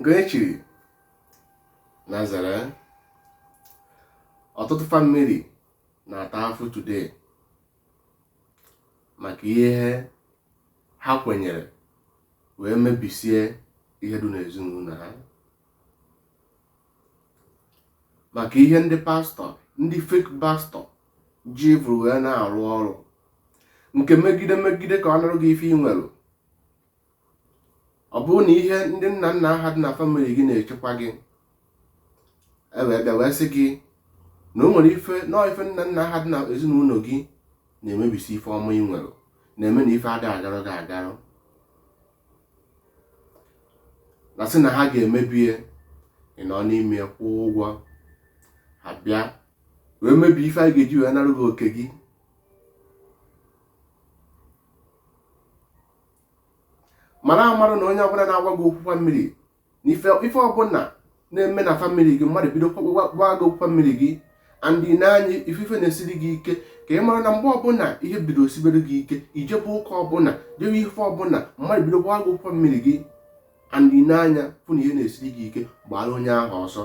nke e chiri na zere ọtụtụ family na-ata afụ today maka ihe ha kwenyere wee mebisie ihe dị n'ezinụlọ ha maka ihe ndị pastor ndị fake pastor ji vụrụ wee na-arụ ọrụ nke megide megide ka ọ narụ gị ife ị nwere ọ bụrụ na ihe ndị nna nna aha dị na family gị na-echekwa gị e wee bịa wee sị gị na o nwere ife nọọ ife nna nna ha dị na ezinụlọ gị na-emebisi ife ọma ị nwere na-eme na ife ada agarụ gị agarụ na-asị na ha ga-emebie ị nọ n'ime kwụọ ụgwọ ha bịa wee mebie ife a ga-eji wee narụ gị oke gị mara amarụ na onye ọbụla na-agwa gị okwu family na ife ọbụla na-eme na family gị mmadụ bido gwa gị okwu family gị and ị n'anya fụ ife na-esiri gị ike ka ị mara na mgbe ọbụla ihe bido sibere gị ike i jebe ụka ọbụla jewe ife ọbụla mmadụ bido gwa gị okwu family gị and ị n'anya fụ na ihe na-esiri gị ike gbara onye ahụ ọsọ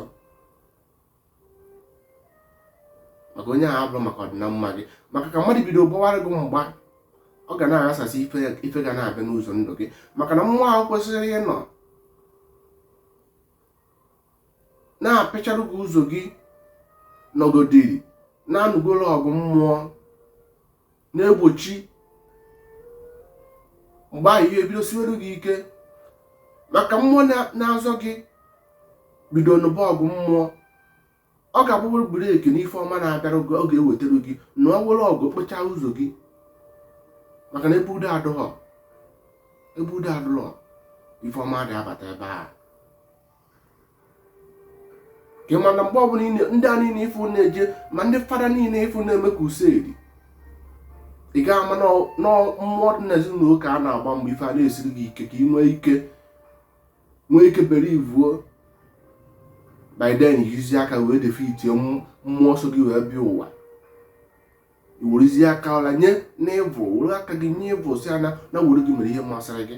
maka onye ahụ abụrọ maka ọdịna mma gị maka ka mmadụ bido gbawara gị mgba ọ ga na-aghasasị ife ga na-abịa n'ụzọ ndụ gị maka na mmụọ ahụ kwesịrị ịnọ na-apịcharụ gị ụzọ gị nọgodiri na-anụgoro ọgụ mmụọ na-egbochi mgbe ahụ ihe bido siwere gị ike maka mmụọ na-azọ gị bido nụba ọgụ mmụọ ọ ga-abụrụ break n'ife ọma na-abịara gị ọ ga-ewetara gị na ọ were ọgụ kpechaa ụzọ gị maka na ebe udo adụghọ ebe udo adụghọ ife ọma ada abata ebe a ka ị mara na mgbe ọbụla ndị a niile ị fụ na-eje ma ndị fada niile ị fụ na-eme crusade ị ga-ama na mmụọ dị n'ezinụlọ ka a na-agba mgbe ife a na-esiri gị ike ka ị nwee ike nwee ike bere evil by then i jizi aka wee defeatie mmụọ so gị wee bịa ụwa i werezi aka ọla nye n'evil were aka gị nye evil sị ya na na were gị mere ihe masịrị gị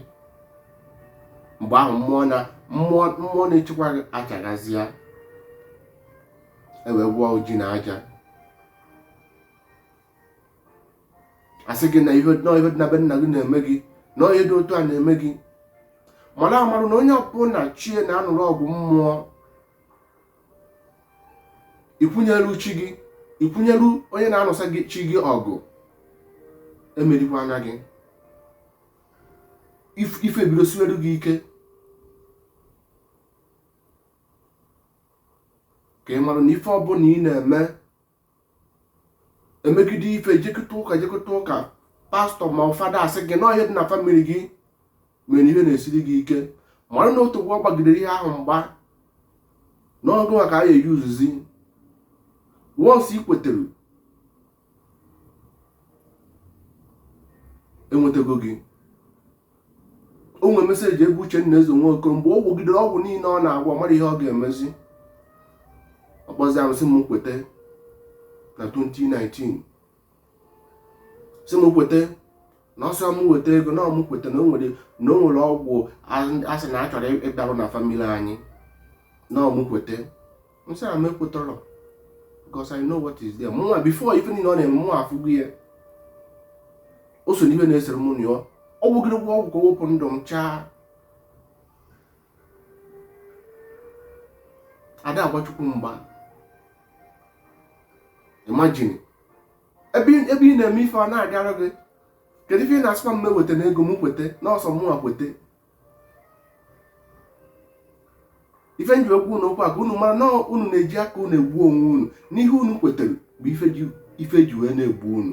mgbe ahụ mmụọ na mmụọ mmụọ na-echekwa gị achagazịa e wee gwụọ ji na aja a sị gị na ihe dị na be nna gị na-eme gị na onye dị otu a na-eme gị mara amarụ na onye ọbụla chi ya na-anụrụ ọgụ mmụọ ikwunyeru chi gị ikwunyeru onye na-anụsa gị chi gị ọgụ emerikwana gị ife ebido siwere gị ike ka ị mara na ife ọbụla ị na-eme emegide ife jekata ụka jekata ụka pastọ ma ọ fada asị gị na ọ ihe a dị na famili gị mere ihe na-esiri gị ike mara na otego ha gbagidere ihe ahụ mgba n'ọgụ maka a ga-eji uzuzi once ị kwetere enwetago gị o nwere meseji ebe Uchenna Eze Nwoko mgbe ọ gwọgidere ọgwụ niile ọ na-agwọ marọ ihe ọ ga-emezi ọ kpọzịa m sị m kweta na 2019 sị m kweta na ọ sịrọ m weta ego na ọ mụ kweta na o nwere na o nwere ọgwụ asị na a chọrọ ịgbarụ na famili anyị na ọ mụ kweta m sị na m ekwetarọ because I know what is there mụnwa before ife niile ọ na-eme mụ afụgo ya o so n'ihe na-esere mụ na ya ọ gwọgide ọgwụ ka o wepụ ndụ m chaa ada agba Chukwu mgba imagine ebe ị na-eme ife ọ na-agara gị kedu ife ị na-asịkwa m weta na ego m kweta na ọ sọ mụnwa kweta ife nji agwa unu okwu a ka unu mara na unu na-eji aka unu egbu onwe unu na ihe unu kwetara bụ ife ji wee na-egbu unu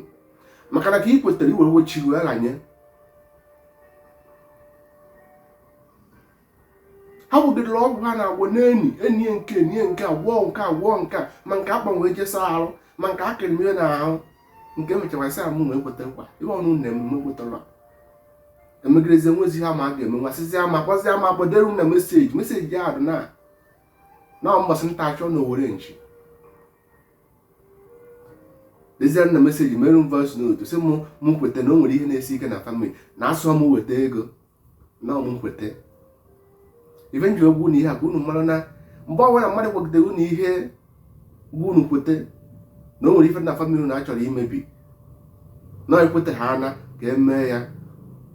maka na ka ị kwetara i were we chi gị ranye ha gwọgidere ọgwụ ha na-agwọ n'enyi enyi nke enyi nke agwọ nke agwọ nke ma nke akpanwe jesa arụ ma nke akịrịmie na ahụ nke mechara sị amụ na ekweta nkwa ihe ọnụ na emume kwetara emegidezi enwezi ha ma a ga-eme nwasịzi ama gwazi ama gbadere na meseji meseji ya dị na na mgbasị nta achọ na owere nchi dezie na meseji mere m voice note sị m m kweta na o nwere ihe na-esi ike na famili na asịrọ m weta ego na ọ mụ kweta ife nji agwa unu ihe a ka unu mara na mgbe ọbụla mmadụ kwagidere unu ihe gwa unu kweta na o nwere ife dị na famili unu achọrọ imebi na i kweta ha ana ka emee ya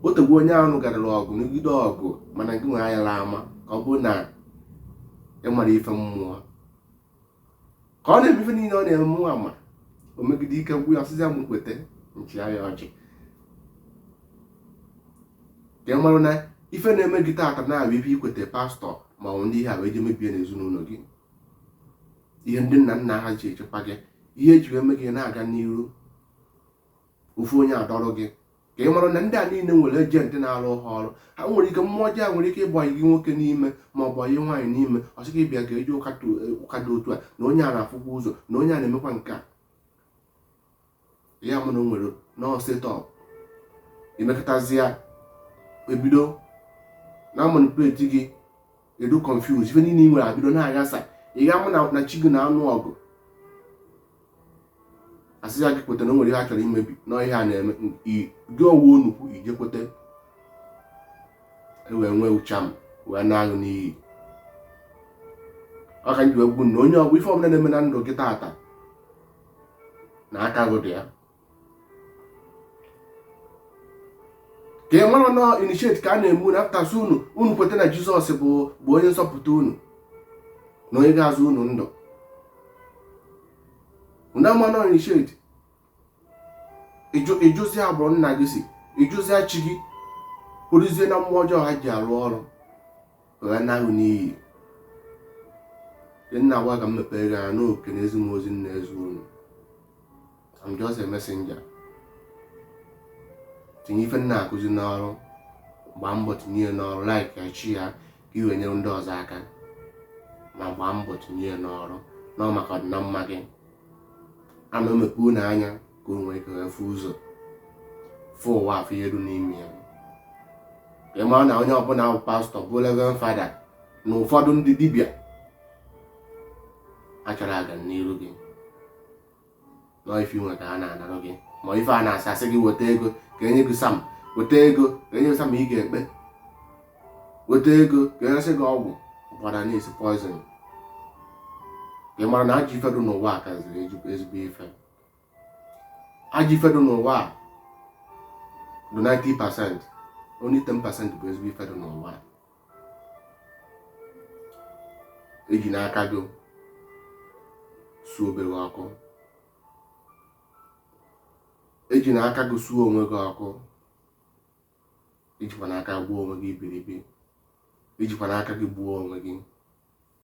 otego onye ahụ garara ọgụ nụgide ọgụ mana gịnwa ayala ama ka ọ bụrụ na ịmara ife mmụọ ka ọ na-eme ife niile ọ na-eme mụnwa ama o megide ike gwụ ya ọ sịzịa m kweta m chịa ya ọchị ka ị marụ na ife na-eme gị taata na-abụ ife i kweta pastọ ma ọ bụ ndị ihe a wee je mebie n'ezinụlọ gị ihe ndị nna nna ha ji echekwa gị ihe eji eme gị na-aga n'iru ofu onye adọrọ gị ka ị mara na ndị a niile nwere ejenti na-arụ ha ọrụ ha nwere ike mmụọ ọjọọ nwere ike ịbanye nwoke n'ime ma ọ banye nwaanyị n'ime ọ sị gị bịa ka e jee ụka dị otu a na onye a na-afụkwa ụzọ na onye a na-emekwa nke a ya mụ na o nwere na ọ setup i mekatazia ebido na-amanipulate gị ị dị confuse ife niile ị nwere ebido na-aghasa ị ga-ama na chi gị na-anụ ọgụ a sịzie gị kweta na o nwere ihe a chọrọ imebi na ihe a na-eme gị ọgwụ onukwu i jee kweta e wee nwee charm wee naa gị n'iyi ọ ka m ji agwa unu onye ọ bụ ife ọbụla na-eme na ndụ gị taata na aka gị dị ya ka ị mara na ọ initiate ka a na-eme unu a pụta sị unu unu kweta na jizọs bụ onye nzọpụta unu na onye ga-azọ unu ndụ unu ama na ọ initiate ịjụzi agbụrụ nna gị si ịjụzi chi gị kpụrụzie na mmụọ ọjọọ ha ji arụ ọrụ wee naa gị n'iyi m na-agwa ka m mepere gị anya nke a na-ezi m ozi m na-ezi unu I'm just a messenger tinye ife m na-akụzi n'ọrụ gbaa mbọ tinye ya n'ọrụ like share ya ka i wee nyere ndị ọzọ aka ma gbaa mbọ tinye ya n'ọrụ na maka ọdịna mma gị a na m emepe unu anya ka unu nwee ike wee fụ ụzọ fụ ụwa a fụ ife dị n'ime ya ka ị mara na onye ọbụla bụ pastọ bụ reverend fada na ụfọdụ ndị dibịa achọrọ aga n'iru gị na ọ ife i nwe ka a na-anara gị ma ife a na-asị a sị gị weta ego ka e nye gị psalm weta ego ka e nye gị psalm ị ga-ekpe weta ego ka e nyesị gị ọgwụ ụkwara na-esi poison ka ị mara na ajọ ife dị n'ụwa a kaziri ezigbo ife ajọ ife dị n'ụwa a dị 90 percent only 10 percent bụ ezigbo ife dị n'ụwa a ejina aka gị suo be gị ọkụ ejina aka gị suo onwe gị ọkụ ejikwana aka gbuo onwe gị iberibe ejikwana aka gị gbuo onwe gị